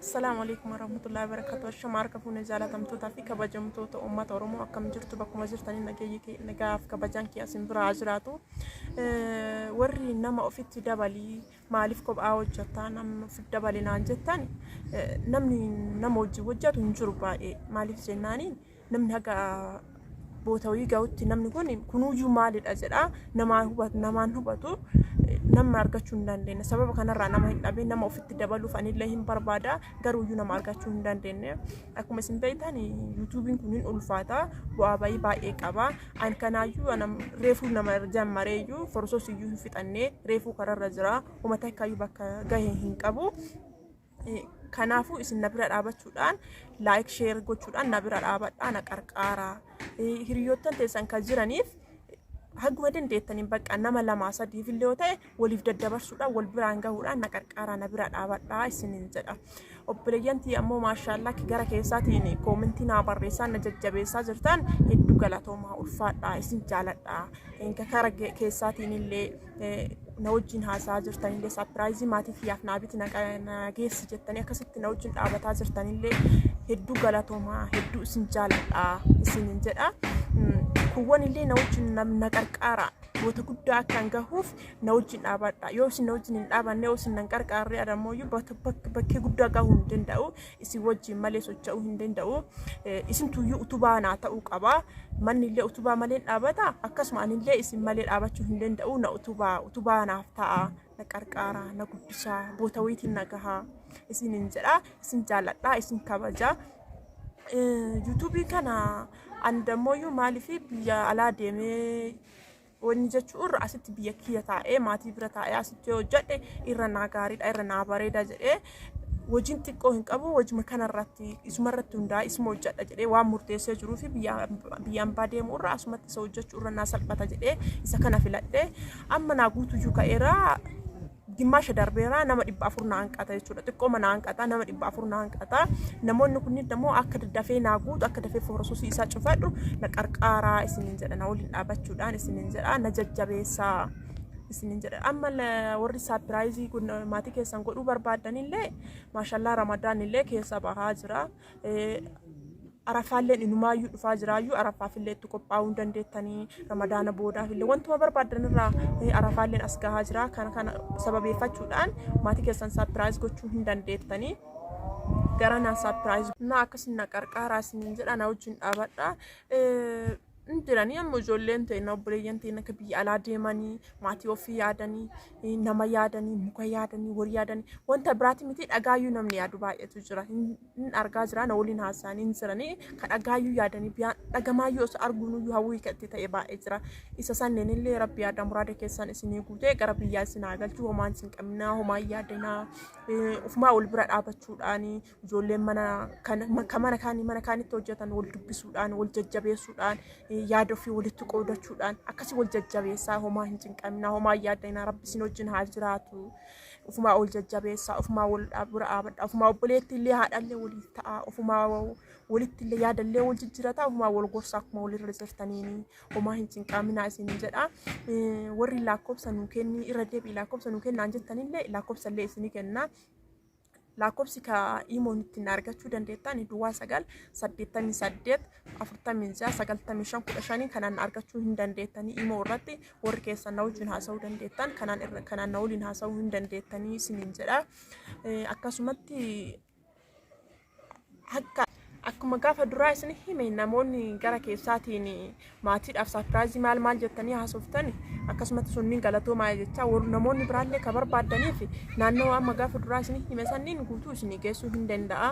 Assalaamu alaikum warahmatullahi wabarakatuh. Ashama harka fuune jaalatamtootaa fi kabajamtoota uummata Oromoo akkam jirtu bakkuma jirtanii nageenyi kee nagaaf kabajaan kee asin biraa haa jiraatu. Eh, Warri nama ofitti dabalii maaliif kophaa hojjettaa namni ofitti dabale naan jettan eh, namni nama wajjin hojjetu hin jiru baay'ee maaliif jennaaniin namni haga boota wayii ga'utti namni kun kunuuyyuu maalidha jedha namaa hubatu namaan hubatu eh, nama argachuu hin dandeenye sababa kanarraa nama hin dhabin nama ofitti dabaluuf anillee hin barbaada garuuyyuu nama argachuu hin dandeenye akkuma isin beektan eh, yuutuubiin kun hin ulfaata bu'aa bayii baay'ee qaba an kanaayyuu anam reefuu nama jammareeyyuu forsoos iyyuu hin fixannee reefuu kararra jira umata akkaayyuu bakka gahe hin qabu Kanaafuu isin na bira dhaabachuudhaan laayik sheer gochuudhaan na bira dhaabadhaa na qarqaaraa. Hiriyoottan teessan kan jiraniif haguma dandeettaniin bakka nama lamaa sadiif illee yoo ta'e waliif daddabarsuudhaan wal biraan gahuudhaan na qarqaaraa na bira dhaabadhaa isiniin jedha. Obboleeyyantii ammoo maashaallaa gara keessaatiin koomentii naa barreessaa na jajjabeessaa jirtan hedduu galatoomaa ulfaadhaa isin jaaladhaa. Gara keessaatiin illee na wajjin haasa'aa jirtanillee saapiraayizii maatii kiyyaaf naa biti na geessi jettanii akkasitti na wajjin dhaabataa jirtanillee hedduu galatoomaa hedduu isin jaaladha isinin jedha. Kuwwan illee na wajjin na qarqaara goota guddaa akkan gahuuf na wajjin dhaabadha yoo isin na wajjin hin dhaabanne yoo isin na qarqaarre adammoo bakkee guddaa gahuu hin danda'u isin wajjin malee socho'uu hin danda'u. Isintuyyuu utubaa naa ta'uu qaba. Manni illee utubaa malee hin dhaabata. Akkasuma ani illee isin malee dhaabachuu hin danda'u. Na utubaa utubaa naaf ta'a. Na qarqaara na guddisaa boota wayiitiin na gahaa. Isin hin jedha isin jaalladha isin kabaja. Yuutuubii kana ani dammoo maaliif biyya alaa deemee Wanni jechuu irra asitti biyya kiyya taa'ee maatii bira taa'ee asitti yoo hojjedhe irra naa gaariidha irra naa bareeda jedhee hojiin xiqqoo hin qabu hojima kanarratti isumarratti hundaa'e isuma hojjedha jedhee waan murteessee jiruu fi biyya biyya ambaa deemu irra asumatti isa hojjechuu irra naa salphata jedhee isa kana filadhe amma naa guutuyyuu ka'eera Dimmaasha darbeera nama dhibba afur na hanqata jechuudha. Xiqqooma na hanqata nama dhibba afur na hanqata. Namoonni kunniin immoo akka dafee naa guutu akka dafee foorososii isaa cufadhu na qarqaaraa isiniin jedha na waliin dhaabachuudhaan isiniin jedha na jajjabeessaa. isinin jedha amma la- warri saapiraayizii kun maatii keessan godhuu barbaaddanillee maashallaa ramadaan illee keessa bahaa jira Arafaalleen inumaayyuu dhufaa jiraayyuu arafaafillee itti qophaa'uu hin dandeettanii ramadaana boodaafillee wantuma barbaadan irraa arafaalleen as gahaa jira kana kana sababeeffachuudhaan maatii keessan saapiraayiz gochuu hin dandeettanii gara naan saapiraayiz na akkasin na qarqaaraa isiniin jedha na wajjin dhaabadha. hin jiranii amma ijoolleen ta'e obboleeyyan ta'e akka biyya alaa deemanii maatii ofii yaadanii eh, nama yaadanii muka yaadanii horii yaadanii wanta biraati miti dhagaayyuu namni yaadu baay'eetu jira hin hin argaa jira na waliin haasa'anii hin jiranii ka dhagaayyuu yaadanii biyyaa dhagamaayyuu osoo arguunuyyuu hawwii katti ta'e baay'ee jira isa sanneen illee rabbi yaada muraada keessan isinii guutee gara biyyaa isin haa galchu homaan isin qabnaa homaa yaadanaa eh, ofumaa wal bira dhaabachuudhaanii Ijoolleen mana kan kan mana kaanii mana kaanitti hojjetan wal dubbisuudhaan, wal jajjabeessuudhaan, eh, yaada ofii walitti qoodachuudhaan akkasii wal jajjabeessaa homaa hin cinqaminaa, homaa hin yaaddainaa rabbi isin wajjin haa jiraatu. Ofumaa wal jajjabeessaa, ofumaa wal dha- bira dhaabadhaa, ofumaa obboleetti illee haadhallee waliif ta'aa, ofumaa wa- walitti illee yaada illee wal jijjiirataa, ofumaa wal gorsaa akkuma walirra jirtaniini homaa hin cinqaminaa isin jedha. Eh, Warri lakkoofsa nuu kenni irra deebi'i lakkoofsa nuu kennaan jettanillee lakkoofsa illee isinii kennaa. Lakkoofsi ka iimoon ittiin argachuu dandeettan duwwaa sagal saddeettamii saddeet afurtamii ja'a sagaltamii shan kudha shanii kanaan argachuu hin dandeettanii iimoo irratti warri keessan na wajjin haasa'uu dandeettan kanaan irra kanaan na waliin haasa'uu hin dandeettanii isiniin jedha. Eh, Akkasumatti Akka akkuma gaafa duraa isin hime namoonni gara keessaatiin maatiidhaaf saapiraayizii maal maal jettanii haasoftan akkasumatti sunniin galatoomaa jechaa warri namoonni biraallee ka barbaaddaniif naannoo amma gaafa duraa isin hime sanniin guutuu isin geessuu hin danda'a.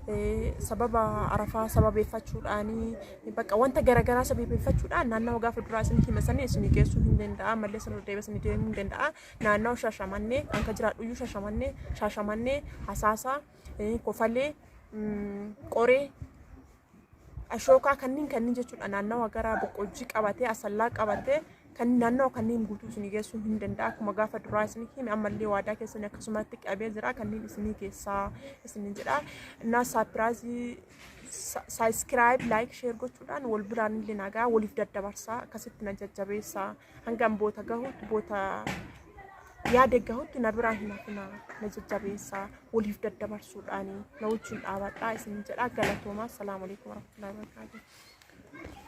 Eh, Sababa arafaa sababeeffachuudhaanii bakka wanta garaagaraa sababeeffachuudhaan naannoo gaafa duraa isin hime sanniin isin geessuu hin danda'a. Mallee sana deebee isin deemuu hin danda'a. Naannoo shashamannee kan ka jiraadhu iyyuu shashamannee shashamannee hasaasaa. eh, kofalee, mm, qoree, ashookaa kanneen kanneen jechuudha naannawa gara boqqojjii qabatee asallaa qabatee kan naannawa kanneen guutuu isinii geessuu hin danda'a akkuma gaafa duraa isinii hime ammallee waadaa keessan akkasumatti qabee jira kanneen isinii keessaa isinii jedha innaa saapiraazii saayiskiraayib laayik sheer gochuudhaan wal biraan illee nagaa waliif daddabarsaa akkasitti na jajjabeessaa. hangan boota gahutti boota yaade gahutti na biraa hin hafina na jajjabeessaa waliif daddabarsuudhaan na wajjin dhaabadhaa isin jedhaa galatoomaa salaamu alaikum warahmatullahi wabarakatuh